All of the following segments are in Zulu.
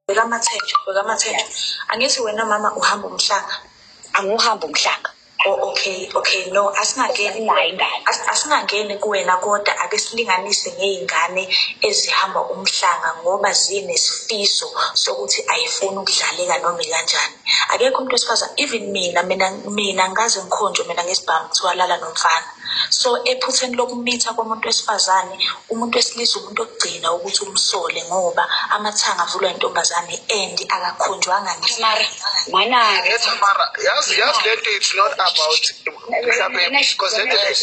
bheka amathenjwa bheka amathenjwa angithi wena mama uhamba umhlanga angiwuhambi umhlanga Oh, okay okay no asingangeni nayo ingane As- asingangeni kuwena kodwa ake silinganise ngey'ngane ezihamba umhlanga ngoba zinesifiso sokuthi ayifuni ukudlaleka noma ikanjani akekho umuntu wesifazane even mina mina mina ngikaze ngikhonjwe mina ngesibhamu kuthiwa lala nomfana so ephutheni lokumitha komuntu wesifazane umuntu wesilisa umuntu okugcina ukuthi umsole ngoba amathanga avulwa intombazane and akakhonjwanga ngemanamara yazi yazi le nto it's not about mhlawumbe because le nto is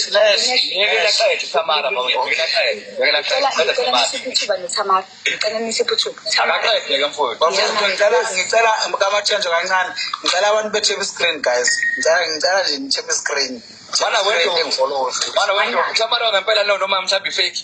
Ngicela nise iphuthuba. Akaqede ke mfowethu. Bafowethu ngicela ngicela kamathenjwa kancane. Ngicela abantu be-tap screen guys. Ngicela ngicela nje ni-tap screen. Bana wethu ngifolowozi. Bana wethu mhlawumbe lo ngempela no noma mhlawumbe ifake.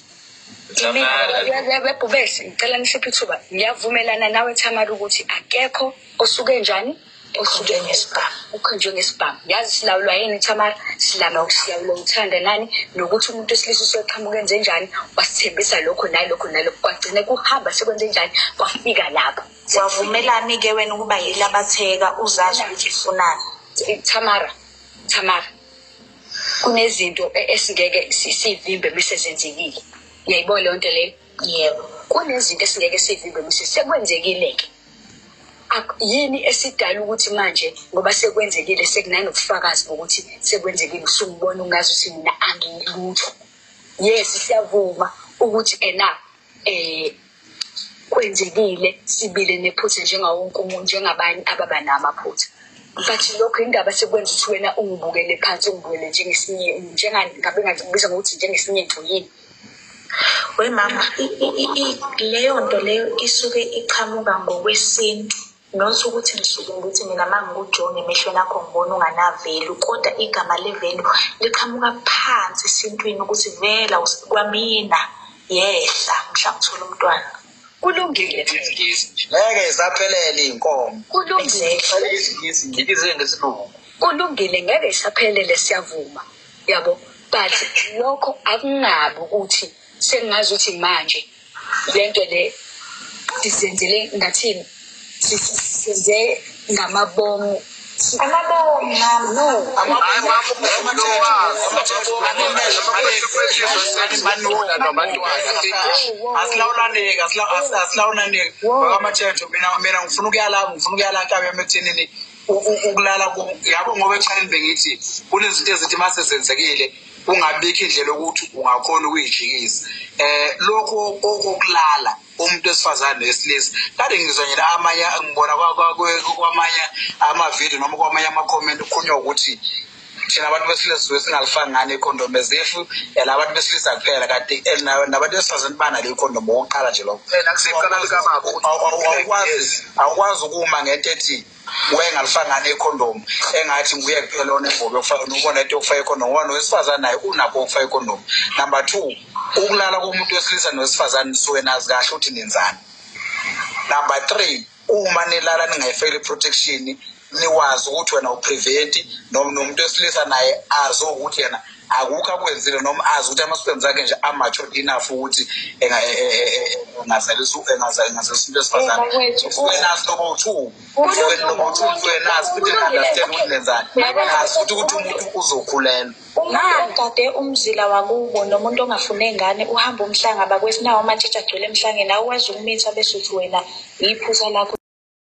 bebhubesi ngicela nisiphe ithuba ngiyavumelana nawe thamara ukuthi akekho osuke njani osuke ngesibhamu ukhonjwe ngesibhamu yazi silawulwa yini thamara silama silawulwa uthanda nani nokuthi umuntu wesilisa usoqhamuke enzenjani wasithembisa lokho nalokho nalokho kwagcine kuhamba sekwenze njani kwafika lapho wavumelani-ke wena ukuba yile abatheka uzazi ukuthi ufunani thamara thamara kunezinto e-, esingeke sivimbe bese zenzekile uyayibona leyo nto leyo yebo kunezinto esingeke sivimbe bese sekwenzekile-ke yini esidala ukuthi manje ngoba sekwenzekile sekunanobufakazi bokuthi sekwenzekile usungibona ungazi ukuthi mina angilutho yes siyavuma ukuthi ena eh kwenzekile sibile nephutha njengawo wonke umuntu njengabanye ababa namaphutha but lokho indaba sekwenza ukuthi wena ungibukele phansi ungibukele njengesinye njengani ngabe ngathi kubiza ngokuthi njengesinye nto yini we mama leyo nto leyo isuke iqhamuka ngokwesintu not ukuthi ngisuke ngithi mina ma ngikujona emehlweni akho ngibona unganavelu kodwa igama levelu liqhamuka phansi esintwini ukuthi vela kwamina yehla mhla ngithola umntwana kulungile ngeke zaphelele iy'nkomo kulungile kulungile ngeke isaphelele siyavuma yabo but lokho akungabi ukuthi sengazi ukuthi manje lento le sizenzele ngathini sizenze ngamabomu amabomu nam no asilawulaneki asilawulaneki amatshetsho mina ngifuna ukuyalapho ngifuna ukuyalapho ekuthenini ukulala yabo ngoba ekuqaleni bengithi kunezinto ezithi uma sezenzekile kungabikho indlela yokuthi ungakhona ukuyijikisa um lokhu okokulala umuntu wesifazane wesilisa kade ngizwa nje amanye ngibona kwamanye amavidiyo noma kwamanye amakhomenti kukhulunywa ukuthi thina abantu besilisa suke singalifaki ngani ikhondomu as if yala eh, abantu besilisa kuphela kanti eh, nabantu besifazane banalo ikhondomu okokuqala nje lokho awukwazi ukuma ngento ethi wayengalifaki ngani ikhondomu engathi nguye kuphela onengobe ubona into yokufaka ikhondomu ngoba nowesifazane naye unakho ukufaka ikhondomu number two ukulala komuntu wesilisa nowesifazane suke nazi kahle ukuthi nenzani number three uma nilala ningayifeli protection niwazi ukuthi wena uprevent noma nomuntu esilisa naye azi ukuthi yena akukho akwenzile noma azi ukuthi ama-sperms akhe nje amature enough ukuthi engazalisa into esifazaneenazi lobo two lobo two enazi futhi enunderstand ukuthi nenzani azi futhi ukuthi umuntu uzokhulelwa Umuntu ogade umzila wakubo nomuntu ongafune ngane uhamba umhlanga bakwesinawo amatshitshi agcwele emhlangeni awukwazi ukumitha bese uthi wena yiphusa lakho